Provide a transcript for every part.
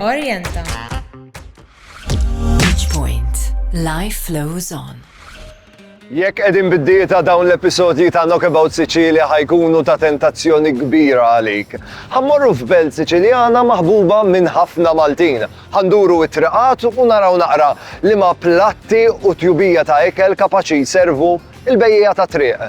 Orienta. Each point. Life flows on. Jekk qegħdin bid-dieta dawn l-episodji ta' Knockabout Sicilia ħajkunu ta' tentazzjoni kbira għalik. Ħammorru f'belt Siċiljana maħbuba minn ħafna Maltin. Ħanduru it-triqat u naraw naqra li ma platti u tjubija ta' ikel kapaċi jservu il-bejja ta' triq.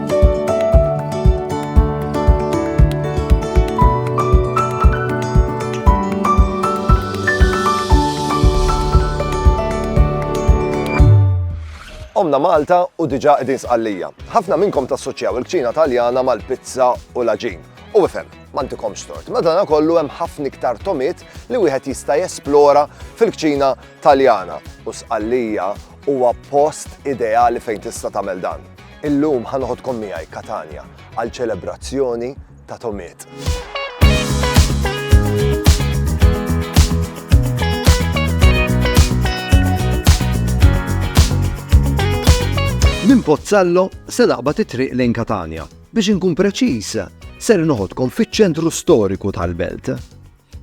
Omna Malta u diġa qegħdin sqallija. Ħafna minnkom tassoċjaw il-kċina Taljana mal-pizza u l-aġin. U ifhem, mantikom stort. Madana kollu hemm ħafna iktar tomiet li wieħed jista' jesplora fil-kċina Taljana u sqallija huwa post ideali fejn tista' tagħmel dan. Illum ħa noħodkom miegħi Katanja għal ċelebrazzjoni ta' tomiet. Minn Pozzallo se naqbad it-triq lejn Katanja. Biex inkun preċiż, ser noħodkom fiċ-ċentru storiku tal-belt.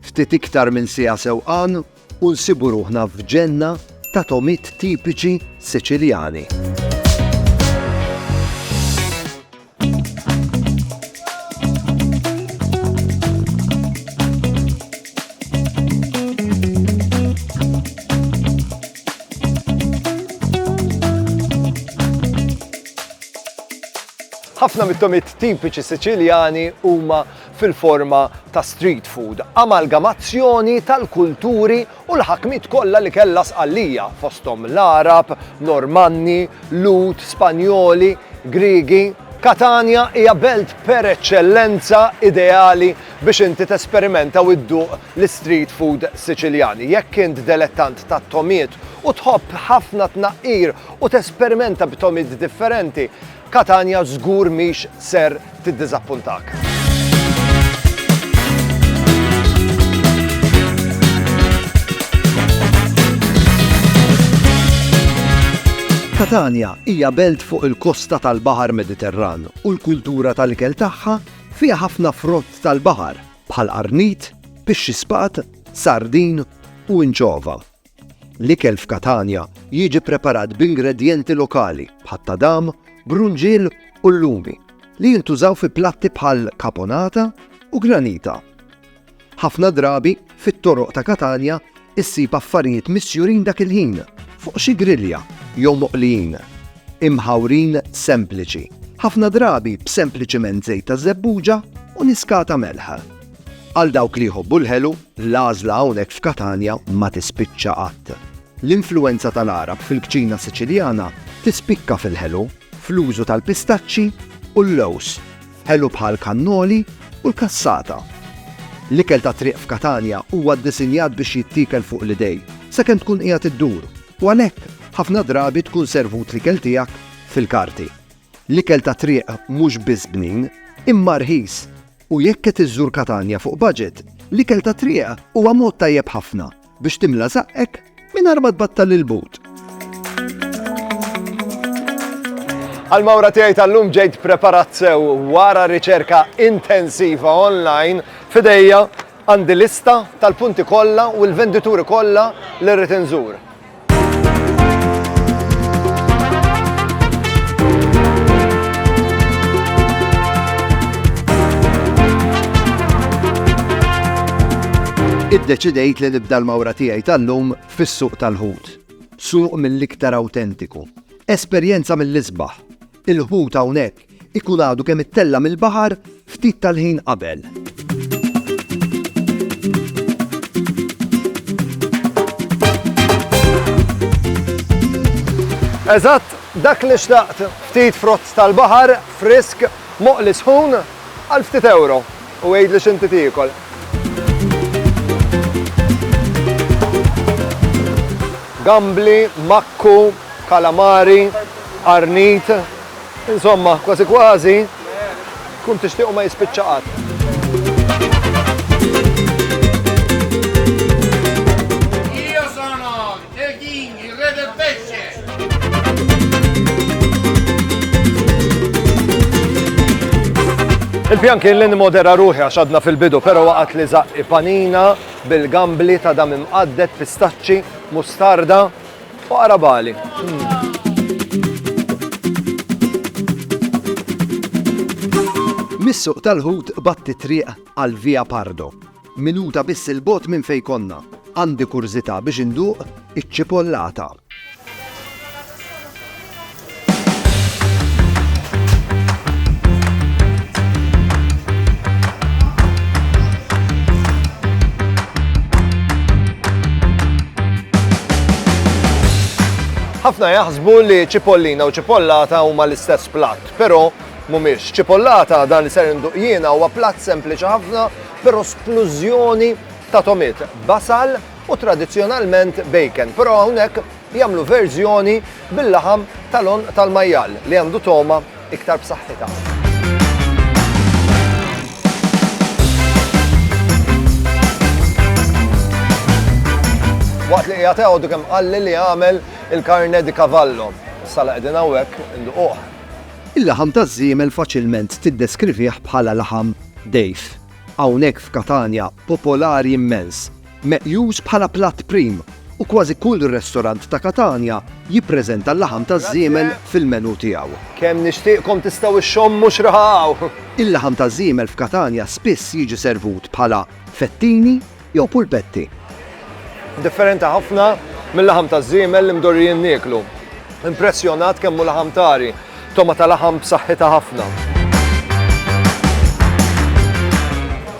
Ftit iktar minn sija sewqan u nsibu ruħna f'ġenna ta' togħmiet tipiċi Siċiljani. Ħafna mit-tomit tipiċi Siċiljani huma fil-forma ta' street food, amalgamazzjoni tal-kulturi u l-ħakmiet kollha li kellha Sqallija, fosthom l-Għarab, Normanni, Lhud, Spanjoli, Griegi. Katanja hija belt per eċċellenza ideali biex inti tesperimenta u dduq l-istreet food Siċiljan. Jekk int delettant tat-togħmiet u tħobb ħafna tnaqqir u tesperimenta b'togħmiet differenti, Catania żgur mhix ser tiddiżappuntak. Catania hija belt fuq il-kosta tal-Baħar Mediterran u l-kultura tal-ikel tagħha fiha ħafna frott tal-baħar bħal qarnit, pixxi spat, sardin u inċova. L-ikel f'Katanja jiġi ppreparat b'ingredjenti lokali bħat-tadam, brunġiel u l-lumi li jintużaw fi platti bħal caponata u granita. Ħafna drabi, fit-toroq ta' Katanja ssib affarijiet misjurin dak il-ħin fuq xi grilja jew moqlijin, imħawrin sempliċi, ħafna drabi b'sempliċiment żejt taż-żebbuġa u niskata melħ. Għal dawk li jħobbu l-ħelu, l-għażla hawnhekk f'Katanja ma tispiċċa qatt. L-influwenza tal-Għarab fil-kċina Siċiljana tispikka fil-ħelu, fl-użu tal-pistaċċi u l-lewż, ħelu bħal kannoli u l-cassata. L-ikel tat-triq f'Katanja huwa ddisinjat biex jittiekel fuq l-idejn, sakemm tkun qiegħed iddur, u għalhekk ħafna drabi tkun servut l-ikel tiegħek fil-karti. L-ikel tat-triq mhux biss bnin, imma rħis. U jekk qed iżżur Katanja fuq budget, l-ikel tat-triq huwa mod tajjeb ħafna biex timla żaqqek mingħajr ma tbattal il-but. Għall-mawra tiegħi tal-lum ġejt preparat sew wara riċerka intensiva online f'idejja għandi lista tal-punti kollha u l-vendituri kollha li rrid inżur. Iddeċidejt li nibda l-mawra tiegħi tal-lum fis-suq tal-ħut. Suq mill-iktar awtentiku. Esperjenza mill-isbaħ. Il-ħut hawnhekk ikun għadu kemm ittella' mill-baħar ftit tal-ħin qabel. Eżatt dak li xtaqt, ftit frott tal-baħar, frisk, moqli sħun, Għal ftit ewro u għidli x'inti tiekol. Gambli, makku, kalamari, arnit, insomma, kważi kważi, kun tixtiequ ma jispiċċa qatt. Qegħdin jirrede Il-pjan kien li nimodera ruħi għax għadna fil-bidu, pero waqat li zaqqi panina bil-gambli ta' dam imqaddet pistaċċi, mustarda u arabali. Missuq tal-ħut batti triq għal Via Pardo Minuta biss 'il bogħod minn fejn konna, għandi kurżità biex induq iċ-ċipollata. Ħafna jaħsbu li ċipollina u ċipollata huma l-istess platt, però mhumiex. Cipollata, dan li ser induq jiena huwa platt sempliċi ħafna, però splużjoni ta' tomiet, basal u tradizzjonalment bacon, però hawnhekk jagħmlu verżjoni bil-laħam tal-għonq tal-majjal li għandu togħma iktar b'saħħitha. Waqt li qiegħed għodu kemm qalli li għamel il-karne di kavallo. Sala qegħdin hawnhekk induquh. Il-laħam taż-żiemel faċilment tiddeskrivih bħala laħam dgħif. Hawnhekk f'Katanja popolari immens, meqjus bħala platt prim u kważi kull restorant ta' Katanja jippreżenta l-laħam taż-żiemel fil-menù tiegħu. Kemm nixtieqkom tistgħu xxommu x'raha hawn! Il-laħam taż-żiemel f'Katanja spiss jiġi servut bħala fettini jew pulpetti. Differenti ħafna mil-laħam taż-żiemel li mdorrijin nieklu. Impressjonat kemm hu laħam tari, togħma ta' laħam b'saħħitha ħafna.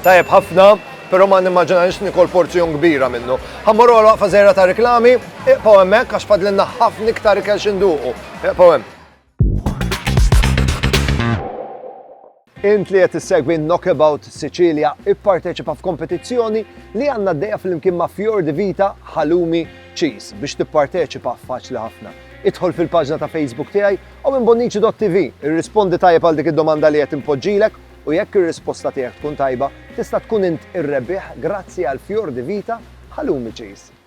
Tajjeb ħafna, però ma nimmaġinajx nikol porzjon kbira minnu. Ħammur għal waqfa żejra ta' reklami, iqpaw hemmhekk għax fadlinna ħafna iktar ikel xinduqu. Iqpaw hemm. Int li qed issegwi Knockabout Sicilia ipparteċipa f'kompetizzjoni li għandna dejja fl-imkien ma' Fjord di Vita Halumi Cheese biex tipparteċipa faċli ħafna. Idħol fil-paġna ta' Facebook tiegħi u minn bonnici.tv irrispondi tajjeb għal dik id-domanda li qed impoġġilek u jekk ir-risposta tiegħek tkun tajba tista' tkun int ir-rebbieħ grazzi għal Fjord di Vita Halumi Cheese.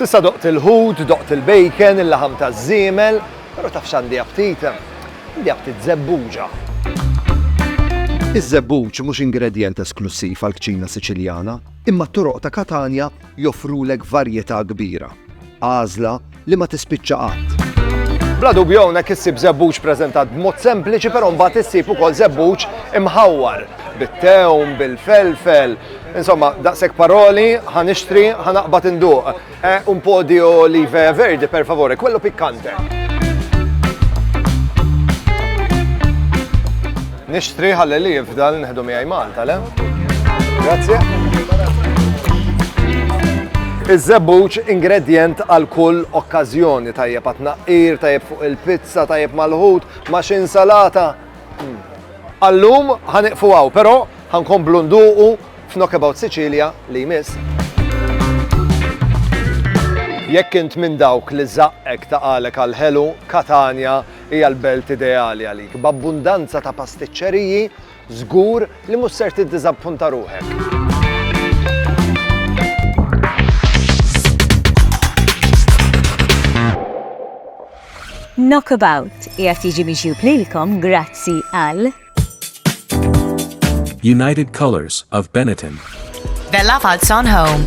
Sissa doqt il-ħut, doqt il-bacon, il-laħam ta' zimel, pero taf xandi aptit, għandi aptit zebbuġa. Iż-zebbuġ mhux ingredjent esklussiv għal kċina Siċiljana, imma t-toroq ta' Katanja joffrulek varjetà kbira, għażla li ma tispiċċa qatt. Bla dubju hawnhekk issib żebbuġ preżentat b'mod sempliċi però mbagħad issib ukoll żebbuġ imħawwar bit-tewm, bil-felfel, insomma daqshekk paroli ħa nixtri ħa naqbad induq. Eh, un podio live verdi per favore, quello piccante. Nixtri ħalli li jifdal neħdu miegħi Malta, le? Grazie. Iż-żebbuġ ingredjent għal kull okkażjoni tajjeb għat naqqir, tajjeb fuq il-pizza, tajjeb mal-ħut, ma' xi insalata. Hmm. Allum ħaniqfu għaw, però ħankom blunduqu f'Knockabout Sicilia li jmiss. Jekk int minn dawk li zaqqek taqalek għal-ħelu, Katania Hija l-belt ideali għalik, b'abbundanza ta' pastiċċeriji, żgur li mhux ser tiddiżappunta ruħek. Knockabout qiegħed jiġi mixjub lilkom grazzi għal United Colors of Benetton. Bella Falzon Home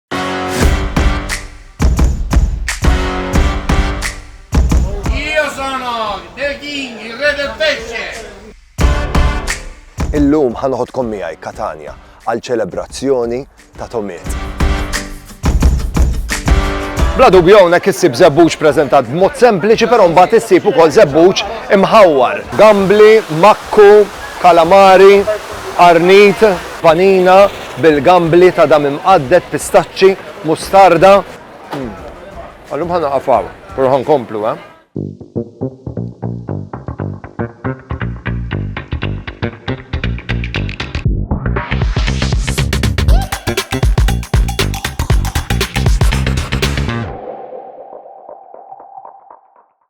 Illum ħanoħodkom miegħi Katania għal ċelebrazzjoni ta' tomiet. Bla dubju hawnhekk issib żebbuġ preżentat b'mod sempliċi però mbagħad issib ukoll żebbuġ imħawwar. Gambli, makku, kalamari, arnit, panina, bil-gambli ta' dam imqadded, pistaċċi, mustarda. Għallum ħa naqaf hawn, però ħa nkomplu, eh?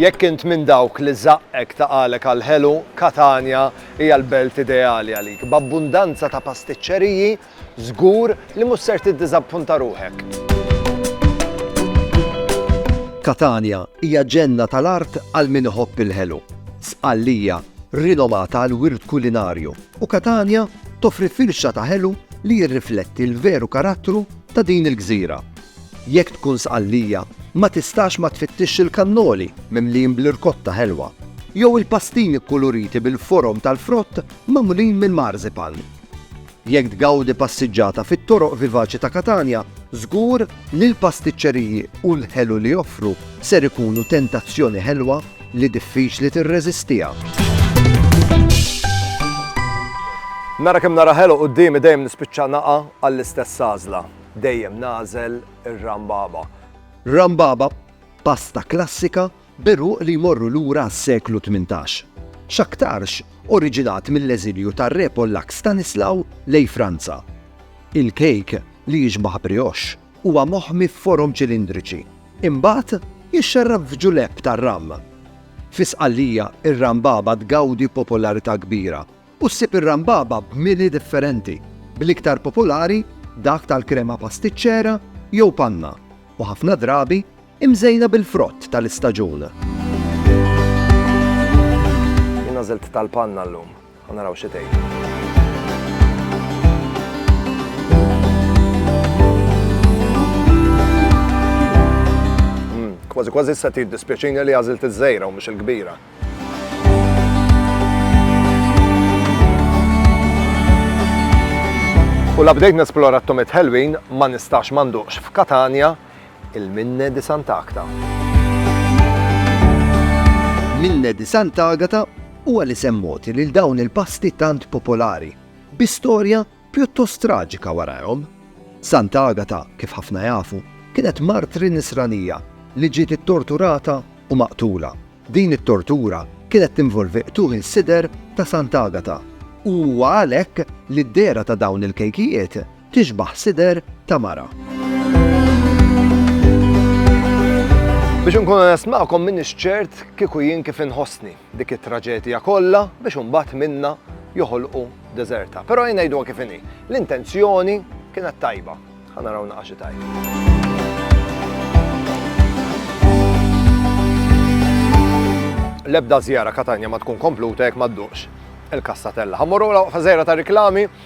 Jekk int minn dawk li żaqqek ta' qalek għall-ħelu, Katanja hija l-belt ideali għalik. B'abbundanza ta' pastiċċeriji, żgur li mhux ser tiddiżappunta ruħek. Katanja hija ġenna tal-art għal min iħobb il-ħelu. Sqallija, rinomata għall-wirt kulinarju. u Catania toffri firxa ta' ħelu li jirrifletti l-veru karattru ta' din il-gżira. Jekk tkun Sqallija, ma tistax ma tfittixx il-kannoli mimlijin bl-irkotta ħelwa, jew il-pastini kkuluriti bil-forom tal-frott magħmulin mill-marzipan. Jekk tgawdi passiġġata fit-toroq vivaċi ta' Catania, żgur li l-pastiċċeriji u l-ħelu li joffru ser ikunu tentazzjoni ħelwa li diffiċli tirreżistiha. Nara kemm nara ħelu quddiemi dejjem nispiċċa naqa' għall-istess għażla. Dejjem nagħżel ir-rambaba. Rambaba, pasta klassika b'għeruq li jmorru lura għas-seklu tmintax. X'aktarx oriġinat mill-eżilju tar-Re Pollakk Stanislaw lejn Franza. Il-kejk li jixbah brioche. Huwa moħmi f'forom ċilindriċi. Imbagħad jixxerrab f'ġulepp tar-ram. Fi Sqallija, ir-rambaba tgawdi popolarità kbira u ssib ir-rambaba b'mili differenti, bl-iktar popolari dak tal-krema pastiċċera jew panna u ħafna drabi Imżejna bil-frott tal-istaġun. Jien għażilt tal-panna llum. Ħa naraw xi tgħid. Kważi kważi issa tiddispjaċini li għażilt iż-żejra u mhux il-kbira. U la bdejt nesplora t-tomit ħelwin ma nistax manduqx f'Katania Il-Minne di Sant'Agta. Minne di Sant'Agata huwa l-isem mogħti lil dawn il-pasti tant popolari, bi storja pjuttost traġika warajhom. Sant'Agata, kif ħafna jafu, kienet martri Nisranija li ġiet ittorturata u maqtula. Din it-tortura kienet tinvolvi qtugħ il-sider ta' Sant'Agata u huwa għalhekk li d-dehra ta' dawn il-kejkijiet Tixbaħ sider ta' mara. Biex nkun onest magħkom minn ċert kieku jien kif inħossni dik it-traġedja kollha biex imbagħad minna joħolqu deżerta. Però jien ngħidu kif inhi. L-intenzjoni kienet tajba. Ħa naraw naqa' xi tajb. L-ebda żjara Katanja ma tkun kompluta jekk ma dduqx il-kastatella. Ħammorru la fażera ta' riklami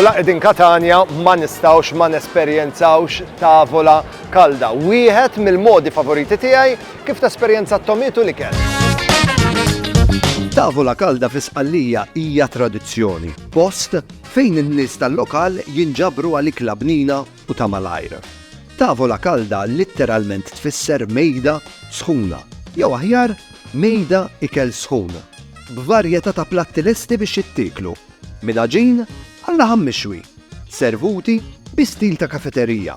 U laqed in Katania ma nistawx ma nesperjenzawx tavola kalda. Wieħed mill-modi favoriti tiegħi kif tesperjenza t-tomitu li kell. Tavola kalda fi Sqallija hija tradizzjoni, post Fejn in-nies tal-lokal jinġabru għal ikla bnina u ta' malajr. Tavola calda litteralment tfisser mejda sħuna, jew aħjar, mejda ikel sħun, b'varjetà ta' platti lesti biex jittieklu, minn għaġin għal laħam mixwi, servuti bi stil ta' kafeterija.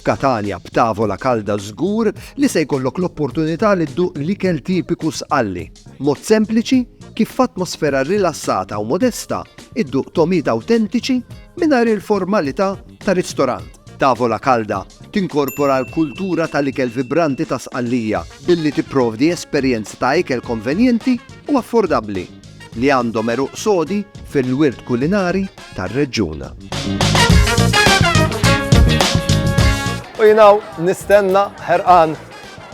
F'Katanja b'tavola kalda żgur li se jkollok l-opportunità li dduq l-ikel tipiku Sqalli. Mod sempliċi kif f'atmosfera rilassata u modesta dduq togħmiet awtentiċi mingħajr il-formalità ta' ristorant. Tavola Kalda tinkorpora l-kultura tal-ikel vibranti ta' Sqallija billi tipprovdi esperjenza ta' ikel konvenjenti u affordabbli li għandhom għeruq sodi fil-wirt kulinari tar-reġjun. U jinaw nistenna ħerqan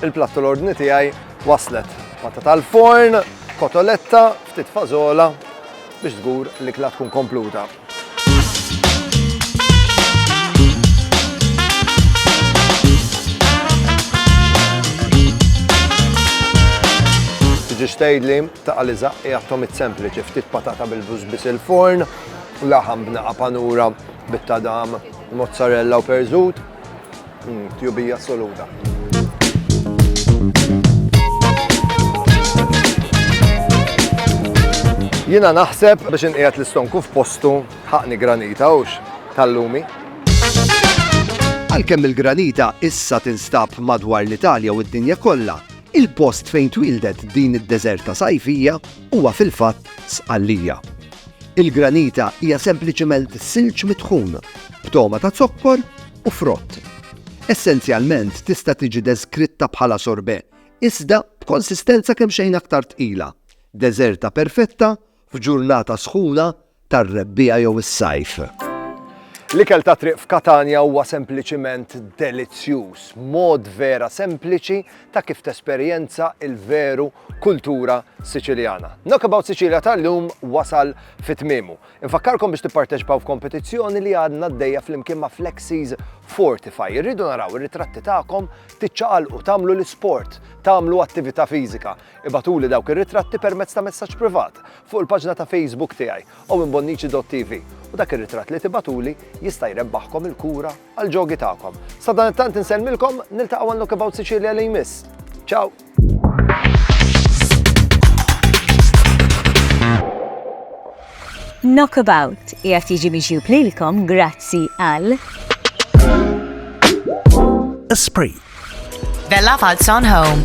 il-plattu l-ordni tiegħi waslet. Patta tal-forn, kotoletta, ftit fazola biex żgur li kla tkun kompluta. Tiġi xtejdli Taqa' li żaqq hija tomit sempliċi, ftit patata bil-bluż biss il-forn, laħam b'naqa' panura bit-tadam, mozzarella u perżut. Mmm, tjubija assoluta. Jina naħseb biex inqiegħed l-istonku f'postu ħaqni granita hux tal-lumi. Għalkemm il-granita issa tinstab madwar l-Italja u d-dinja kollha, Il-post fejn twieldet din id-deżerta sajfija huwa fil-fatt Sqallija. Il-granita hija sempliċement silġ mitħun b'togħma ta' zokkor u frott. Essenzjalment tista' tiġi deskritta bħala sorbet, iżda b'konsistenza kemxejn aktar tqila, deżerta perfetta f'ġurnata sħuna tar-rebbiegħa jew is-sajf. L-ikel tat-triq f'Katanja huwa sempliċiment delizzjuż, mod vera sempliċi ta' kif tesperjenza l-veru kultura Siċiljana. Knockabout Sicilia tal-lum wasal fi tmiemu. Infakkarkom biex tipparteċipaw f'kompetizzjoni li għadna għaddejja flimkien ma' Flexies Fortify. Irridu naraw ir-ritratti tagħkom tiċċaqalqu, tagħmlu l-isport, tagħmlu attività fiżika. Ibagħtuli dawk ir-ritratti permezz ta' messaġġ privat fuq il-paġna ta' Facebook tiegħi owenbonnici.tv u dak ir-ritratt li tibagħtuli jista' jrebbaħkom il-kura għall-ġogi tagħkom. Sadanittant insellmilkom, niltaqgħu għal Knockabout Sicilia li jmiss. Ciao! Knockabout qiegħed jiġi miġjub lilkom grazzi għal Esprit. Bella Falzon Home